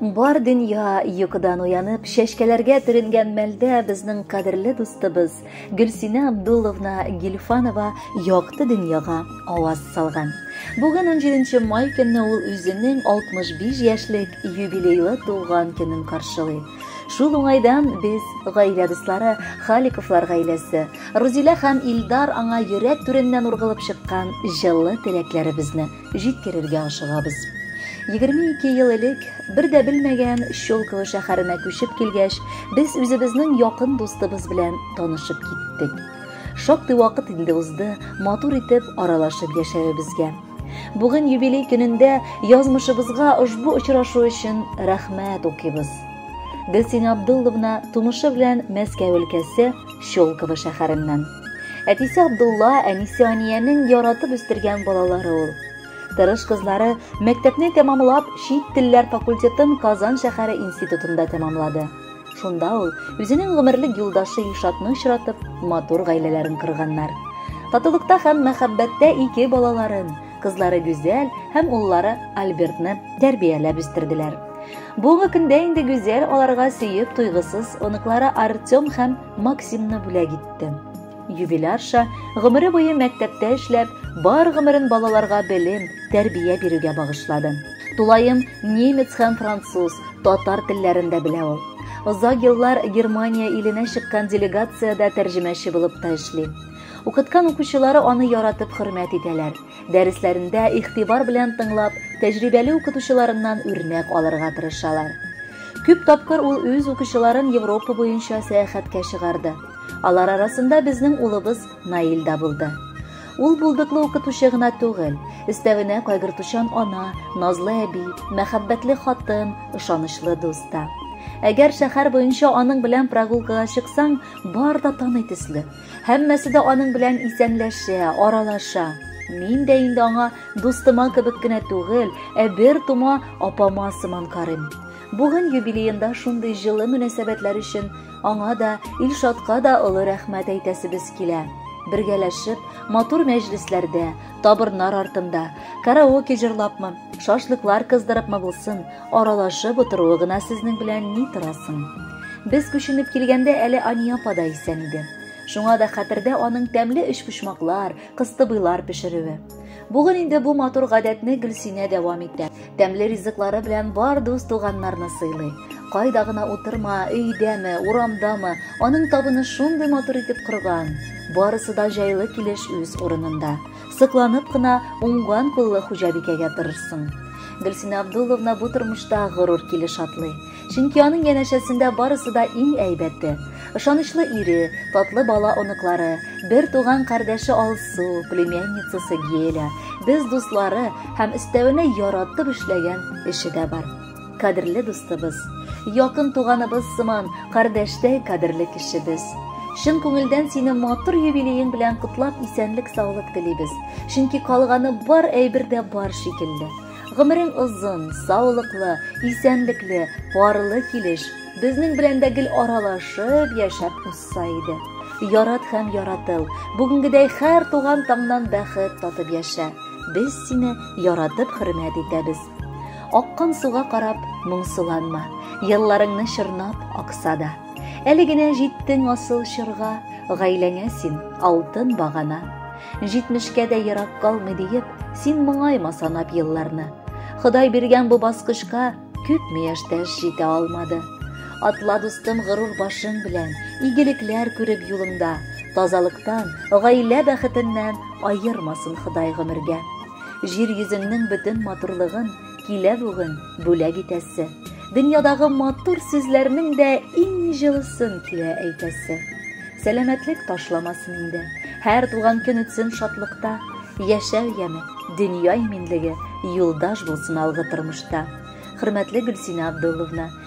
Бар дөнья йокыдан уянып, чәчкәләргә төренгән мәлдә безнең кадерле дустыбыз Гөлсинә Абдулловна Гильфанова якты дөньяга аваз салган. Бүген 17 май көнне ул үзенең 65 яшьлек юбилейлы туган көнен каршылый. Шул уңайдан без, гаилә дуслары, Халиковлар гаиләсе, Рузилә һәм Илдар аңа йөрәк түреннән ургылып чыккан җылы теләкләребезне җиткерергә ашыгабыз. Егерме ике ел элек, бер дә белмәгән Щелково шәһәренә күчеп килгәч, без үзебезнең якын дустыбыз белән танышып киттек. Шактый вакыт инде узды, матур итеп аралашып яшәвебезгә. Бүген юбилей көнендә язмышыбызга ошбу очрашу өчен рәхмәт укыйбыз. Гөлсинә Абдулловна тумышы белән Мәскәү өлкәсе, Щелково шәһәреннән. Әтисе Абдулла, әнисе Аниянең яратып үстергән балалары ул. Тырыш кызлары мәктәпне тәмамлап, чит телләр факультетын Казан шәһәре институтында тәмамлады. Шунда ул үзенең гомерлек юлдашы Илшатны очратып, матур гаиләләрен корганнар. Татулыкта һәм мәхәббәттә ике балаларын, Кызлары Гүзәл һәм уллары Альбертны тәрбияләп үстерделәр. Бүгенге көндә инде Гүзәл аларга сөеп туйгысыз оныклары Артем һәм Максимны бүләк итте. Юбилярша гомере буе мәктәптә эшләп, бар гомерен балаларга белем, тәрбия бирүгә багышлады. Тулаем немец һәм француз, татар телләрен дә белә ул. Озак еллар Германия иленә чыккан делегациядә тәрҗемәче булып та эшли. Укыткан укучылары аны яратып хөрмәт итәләр. Дәресләрендә игътибар белән тыңлап, тәҗрибәле укытучыларыннан үрнәк алырга тырышалар. Күп тапкыр ул үз укучыларын Европа буенча сәяхәткә чыгарды. Алар арасында безнең улыбыз Наил да булды. Ул булдыклы укытучы гына түгел, өстәвенә кайгыртучан ана, назлы әби, мәхәббәтле хатын, ышанычлы дус та. Әгәр шәһәр буенча аның белән прогулкага чыксаң, бар да таный төсле. Һәммәсе дә аның белән исәнләшә, аралаша. Мин дә инде аңа дустыма кебек кенә түгел, ә бер тума апама сыман карыйм. Бүген юбилеенда шундый җылы мөнәсәбәтләр өчен аңа да, Илшатка да олы рәхмәт әйтәсебез килә. Бергәләшеп, матур мәҗлесләрдә, табыннар артында, караоке җырлапмы, шашлыклар кыздырыпмы булсын, Аралашып утыруы гына сезнең белән ни торасың? Без күченеп килгәндә әле Ания апа да исән иде. Шуңа да хәтердә аның тәмле өчпочмаклар, кыстыбыйлар пешерүе. Бүген инде бу матур гадәтне Гөлсинә дәвам итә. Тәмле ризыклары белән бар дус туганнарны сыйлый. Кайда гына утырма, өйдәме, урамдамы, аның табыны шундый матур итеп корган. Барысы да җайлы килеш үз урынында. Сокланып кына уңган куллы хуҗабикәгә торырсың. Гөлсинә Абдулловна бу тормышта горур килеш атлый. Чөнки аның янәшәсендә барысы да иң әйбәте. Ышанычлы ире, татлы бала оныклары, бер туган кардәше Алсу, племянницасы Геля, без дуслары һәм өстәвенә яратып эшләгән эше дә бар. Кадерле дустыбыз, якын туганыбыз сыман, кардәштәй кадерле кешебез. Чын күңелдән сине матур юбилеең белән котлап исәнлек саулык телибез. Чөнки калганы бар әйбер дә бар шикелле. Гомерең озын, саулыклы, исәнлекле, парлы килеш, безнең белән дә гел аралашып яшәп узса иде. Ярат һәм яратыл, бүгенгедәй һәр туган таңнан бәхет татып яшә. Без сине яратып хөрмәт итәбез. Аккан суга карап, моңсуланма, елларыңны чорнап акса да. Әле генә җиттең асыл чорга, гаиләңә син алтын багана. Җитмешкә дә ерак калмый диеп, син моңайма санап елларны. Ходай биргән бу баскычка күпме яшьтәш җитә алмады. Атла дустым горур башың белән, игелекләр күреп юлыңда, тазалыктан, гаилә бәхетеннән аермасын Ходай гомергә. Җир йөзеннең бөтен матурлыгын килә бүген бүләк итәсе. Дөньядагы матур сүзләрнең дә иң җылысын килә әйтәсе. Сәламәтлек ташламасын инде. Һәр туган көн үтсен шатлыкта. Яшәү яме, дөнья иминлеге юлдаш булсын алгы тормышта. Хөрмәтле Гөлсинә Абдулловна,